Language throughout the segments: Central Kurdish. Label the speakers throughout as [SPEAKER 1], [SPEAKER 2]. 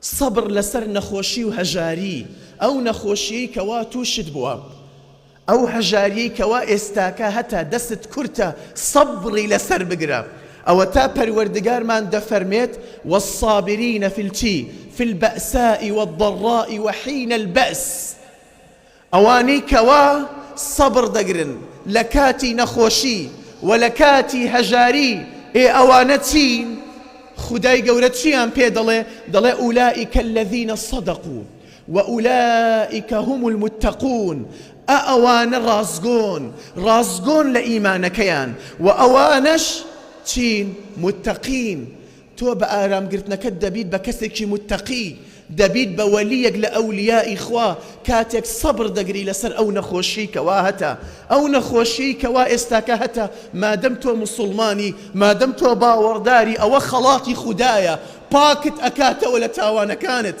[SPEAKER 1] سەبر لەسەر نەخۆشی و هەژاری، ئەو نەخۆشیەی کەوا توشت بوە ئەو هەژاریەی کەوا ئێستاکە هەتا دەستت کورتە سەبری لەسەر بگرە ئەوەتا پەروەردگارمان دەفەرمێت والصابرین فی الچی فی البەئساء والضراء وحین البەئس ئەوانەی کەوا سەبر دەگرن لە کاتی نەخۆشی وە لە کاتی هەژاری ئێ ئەوانە چین؟ خودای گەورە چیان پێ دەڵێ؟ دەڵێ ئولائک الذین صدقو و ئولائک هم المتقون ئە ئەوانە ڕاستگۆن ڕاستگۆن لە ئیمانەکەیان وە ئەوانەش چین؟ متقین تۆ بە ئارام گرتنەکەت دەبیت بە کەسێکی موتەقی، دەبیت بە وەلییەک لە ئەولیائی خوا کاتێک سەبر دەگری لەسەر ئەو نەخۆشیەی کەوا هەتە، ئەو نەخۆشیەی کەوا ئێستاکە هەتە، مادەم تۆ موسوڵمانی، مادەم تۆ باوەڕداری ئەوە خەڵاتی خودایە پاکت ئەکاتەوە لە تاوانەکانت.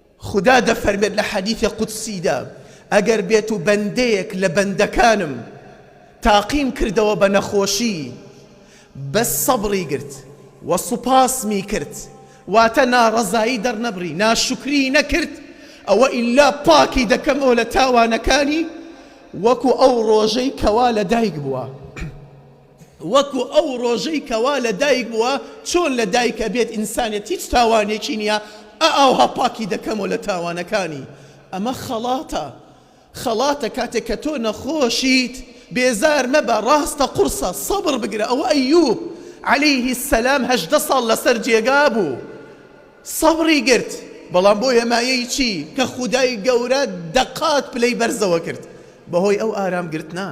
[SPEAKER 1] خودا دەفەرمێت لە حەدیثی قودسیدا، ئەگەر بێت و بەندەیەک لە بەندەکانم تاقیم کردەوە بە نەخۆشی بەس سەبری گرت وە سوپاسمی کرد واتە ناڕەزایی دەرنەبڕی ناشوکری نەکرد ئەوە ئیلا پاکی دەکەمەوە لە تاوانەکانی وەکو ئەو ڕۆژەی کەوا لەدایک بووە. وەکو ئەو ڕۆژەی کەوا لە دایک بووە چۆن لە دایک ئەبێت ئینسانێت هیچ تاوانێکی نیە ئە ئاوها پاکی دەکەمەوە لە تاوانەکانی ئەمە خەڵاتە خەڵاتە کاتێک کە تۆ نەخۆشیت بێزار مەبە ڕاستە قوڕسە سەبڕ بگرە ئەوە ئەیوب علیه سلام هەژدە ساڵ لەسەر جێگا بوو سەبڕی گرت بەڵام بۆیە مایەی چی کە خودای گەورە دەقات پلەی بەرزەوە کرد بەهۆی ئەو ئارام گرتنە.